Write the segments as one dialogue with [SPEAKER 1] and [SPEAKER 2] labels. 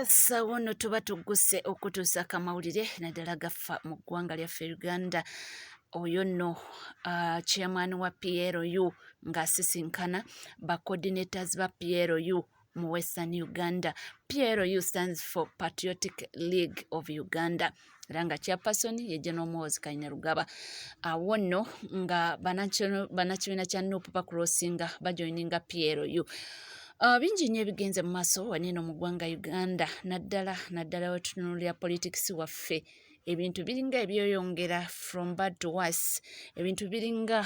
[SPEAKER 1] sawa ono tuba tugguse okutuusa akamawulire naddala gaffa mu ggwanga lyaffe uganda oyo nno uh, chairman wa plu ng'asisinkana ba coordinators ba plu mu western uganda plu stands for patriotic league of uganda era nga chairperson ye general mozi kanyarugaba awo nno nga banakibiina kya nup bacrossinga bajoininga plu Uh, bingi nnyo ebigenze mu maaso wanieno mu ggwanga uganda naddala naddala wetutunulira politics waffe ebintu biringa ebyoyongera from bad to worse ebintu biringa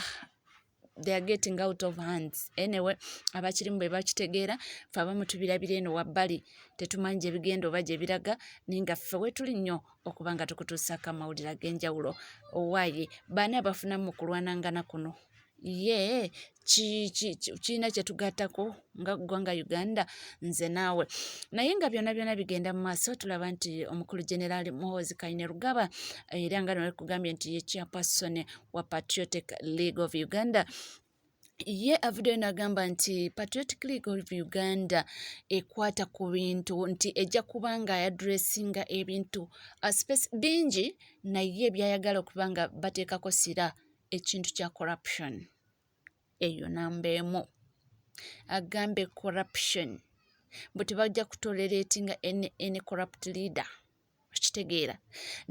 [SPEAKER 1] they are getting out of hands anyway abakirimu be bakitegeera fe abamu tubirabira eno wabbali tetumanyi gye bigenda oba gye biraga naye nga ffe wetuli nnyo okuba nga tukutuusaako amawulire ag'enjawulo owaaye baani abafunamu mu kulwanangana kuno ye kirina kye tugattako nga ggwanga uganda nze naawe naye nga byona byona bigenda mu maaso tulaba nti omukulu generaali muhoozi kaine rugaba eh, era nga nolekugambye nti ye chairperson wa patriotic league of uganda ye avudeyo nagamba nti patriotic league of uganda ekwata ku bintu nti ejja kuba nga yadressinga ebintu uh, space bingi naye byayagala okuba nga bateekako sira ekintu kya corruption eyo namba emu agambye corruption mbu tebajja kutoleretinga any corrupt leader okitegeera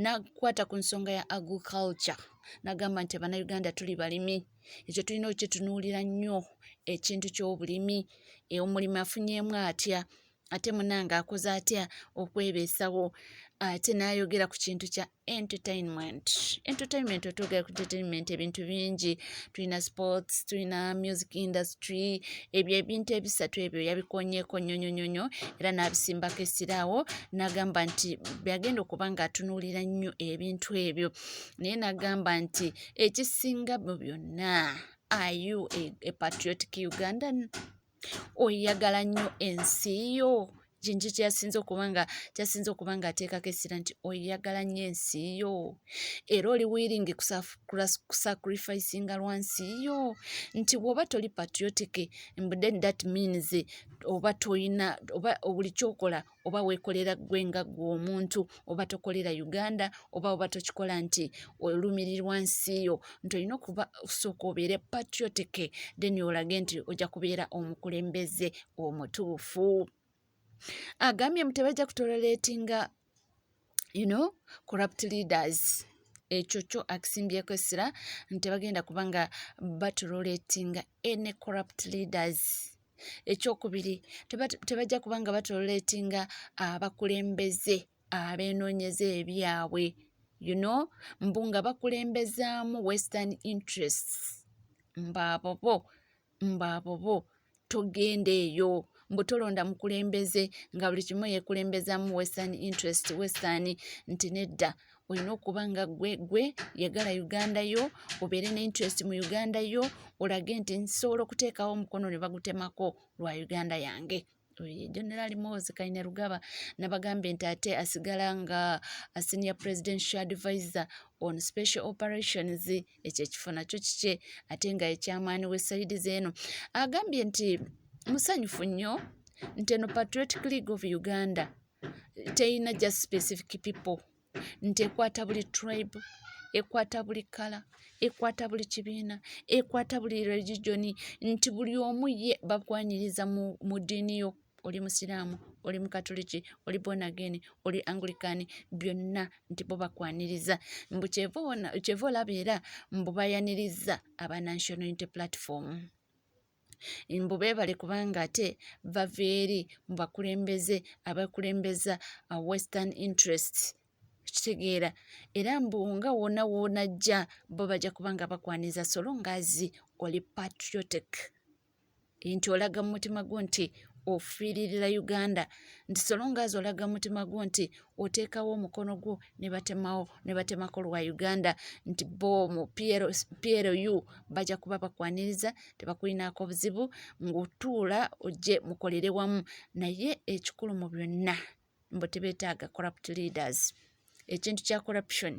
[SPEAKER 1] nakwata ku nsonga ya agriculture nagamba nti abanauganda tuli balimi ekyo tulina okukitunuulira nnyo ekintu ky'obulimi e, omulimi afunyeemu atya ate munange akoze atya okwebeesawo ate nayogera ku kintu kya entertainment entertainment otwogera ku entertainment ebintu bingi tulina sports tulina music industry ebyo ebintu ebisatu ebyo yabikonyeko nyonyonyonyo era n'abisimbako esiraawo n'agamba nti byagenda okuba nga atunuulira nnyo ebintu ebyo naye n'agamba nti ekisinga mu byonna are you a, a patriotic ugandan oyagala nnyo ensi yo kintu kyasinze okuba nga kyasinze okuba nga ateekako essira nti oyagala nnyo ensi yo era oli wiringi kusacrificinga lwa nsi yo nti bw'oba toli patriotic mbuden that means oba tolina oba buli kyokola oba weekolera ggwe nga ggwe omuntu oba tokolera uganda oba oba tokikola nti olumirirwa nsi yo nti olina okuba osooka obeere patriotic then olage nti ojja kubeera omukulembeze omutuufu agambye mu tebajja kutoleretinga you know corrupt leaders ekyo kyo akisimbyeko essira nti bagenda kubanga batuloletinga any corrupt leaders ekyokubiri tebajja kuba nga batoletinga abakulembeze abeenoonyeza ebyabwe you know mbu nga bakulembezaamu western interests mbaabobo mbaabobo togenda eyo mbu tolonda mukulembeze nga buli kimu yekulembezaamu western interest western nti nedda olina okuba nga gwe gwe yagala uganda yo obeere ne interest mu uganda yo olage nti nsobola okuteekawo omukono ne bagutemako lwa uganda yange general mosi kaine rugaba nabagambye nti ate asigala nga senior presidential advisor on special operations ekyo ekifo nakyo kikye ate nga ekyamaani wesayidi zeeno agambye nti musanyufu nnyo nti eno patriotic league of uganda teyina just specific people nti ekwata buli tribe ekwata buli kala ekwata buli kibiina ekwata buli regigioni nti buli omu ye bakwanyiriza mu diini yo oli musiraamu oli mukatuliki oli bonageni oli angulikani byonna nti bo bakwaniriza mbu kyeva olaba era mbu bayaniriza aba national unity platform mbu beebale kubanga ate bava eri mu bakulembeze abakulembeza uh, western interest kitegeera era mbu nga wona wona ajja bo bajja kubanga bakwaniza solo ngaazi oli patriotic nti olaga mu mutima gwo nti ofiiririra uganda nti solo ngaazi olaga mu mutima gwo nti oteekawo omukono gwo ne batemawo ne batemako lwa uganda nti bo mu plu bajja kuba bakwaniriza tebakulinaako buzibu ng'otuula ojje mukolere wamu naye ekikulu mu byonna mbu tebeetaaga corrupt leaders ekintu kya corruption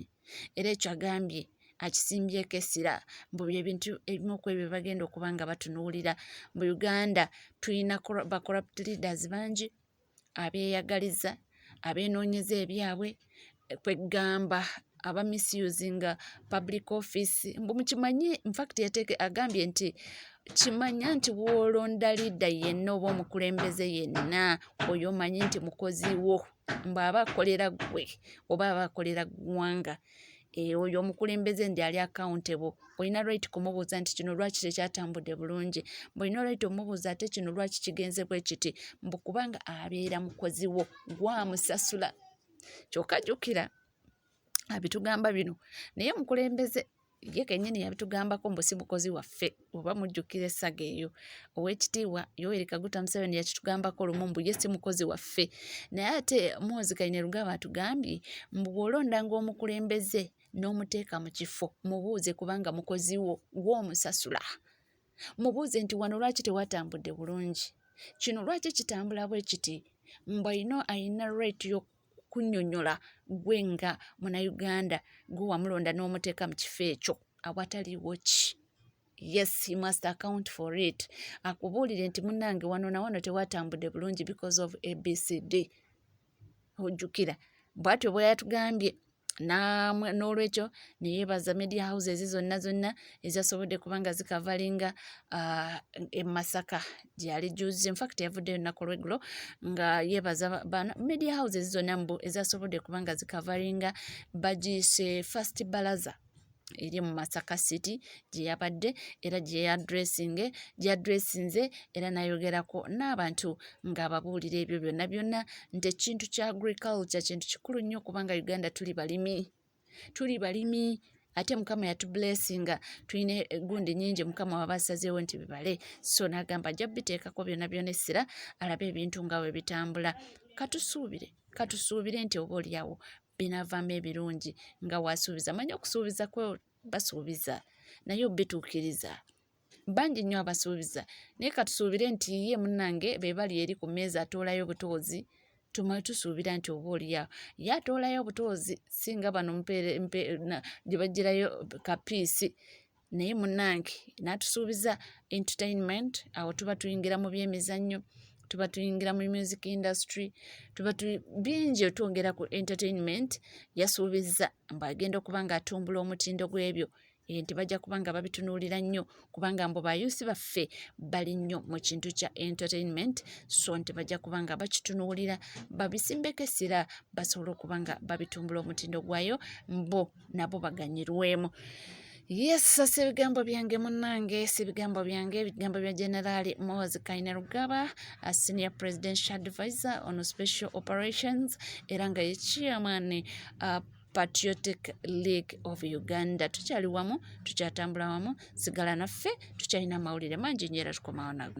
[SPEAKER 1] era ekyo agambye akisimbyeko essira mbu byebintu ebimu ku ebyo bagenda okuba nga batunuulira mu uganda tulina ba corrupt leaders bangi abeeyagaliza, abeenoonyeza ebyabwe kwe ggamba aba misusinga public office mbu mukimanyi infact yateeke agambye nti kimanya nti woolonda liida yenna oba omukulembeze yenna oyo omanyi nti mukozi wo mbu aba akolera ggwe oba aba akolera ggwanga. Eh, oyo omukulembeze ndi ali accountable olina right kumubuuza nti kino lwaki tekyatambudde bulungi mbulina right omubuuza ate kino lwaki kigenze bwe kiti mbu kubanga abeera mukozi wo gwamusasula kyokka jjukira abitugamba bino naye omukulembeze ye kenyini yabitugambako mbu si mukozi waffe oba mujjukira essaga eyo owekitiibwa yoweri kaguta museveni yakitugambako lumu mbu ye si mukozi waffe naye ate mwozi kainerugaba atugambye mbu bwolondanga omukulembeze n'omuteeka mu kifo mubuuze kubanga mukozi wo gwomusasula mubuuze nti wano lwaki tewatambudde bulungi kino lwaki kitambula bwe kiti mbu ayina ayina right kunyonyola gwe nga munauganda gwe wamulonda n'omuteeka mu kifo ekyo awataliwo ki yes he must account for it akubuulire nti munange wano nawano tewatambudde bulungi because of abcd ojjukira bwatyo bweyatugambye n'olwekyo neyebaza media houses zonna zonna ezasobodde kubanga zikavalinga uh, emasaka gyali juzi infact yavuddeyo lunaku lweggulo nga yebaza bana media houses zonna mbu ezasobodde kubanga zikavalinga bagiise first balaza eri mu masaka city gye yabadde era gye yadressinge gyadressinze era nayogerako n'abantu ng'ababuulira ebyo byonna byonna nti ekintu kya agriculture kintu kikulu nnyo kubanga uganda tuli balimi tuli balimi ate mukama yatublessinga tulina egundi nyingi mukama waba asazeewo nti bibale so nagamba ajja biteekako byona byona essira alabe ebintu nga we bitambula katusuubire katusuubire nti oba olyawo binaavaamu ebirungi nga waasuubiza manya okusuubiza kwe basuubiza naye obituukiriza bangi nnyo abasuubiza naye katusuubire nti ye munnange be bali eri ku mmeeza atoolayo obutoozi tumale tusuubira nti oba olyawo ye atoolayo obutoozi si nga bano gye bagirayo kapiisi naye munange natusuubiza entertainment awo tuba tuyingira mu byemizannyo tuba tuyingira mu music industry tuba bingi otwongera ku entertainment yasuubizza mbu agenda okuba nga atumbula omutindo gw'ebyo eh, nti bajja kuba nga babitunuulira nnyo kubanga mbu bayuusi baffe bali nnyo mu kintu kya entertainment so nti bajja kuba nga bakitunuulira babisimbeko essira basobole okuba nga babitumbula omutindo gwayo mbu nabo baganyirwemu yesu si ebigambo byange munange si ebigambo byange ebigambo bya generali mozi kaine rugaba a senior presidential advisor on special operations era nga ye chairman uh, patriotic league of uganda tukyali wamu tukyatambula wamu sigala naffe tukyalina amawulire mangi nyo era tukomawo nago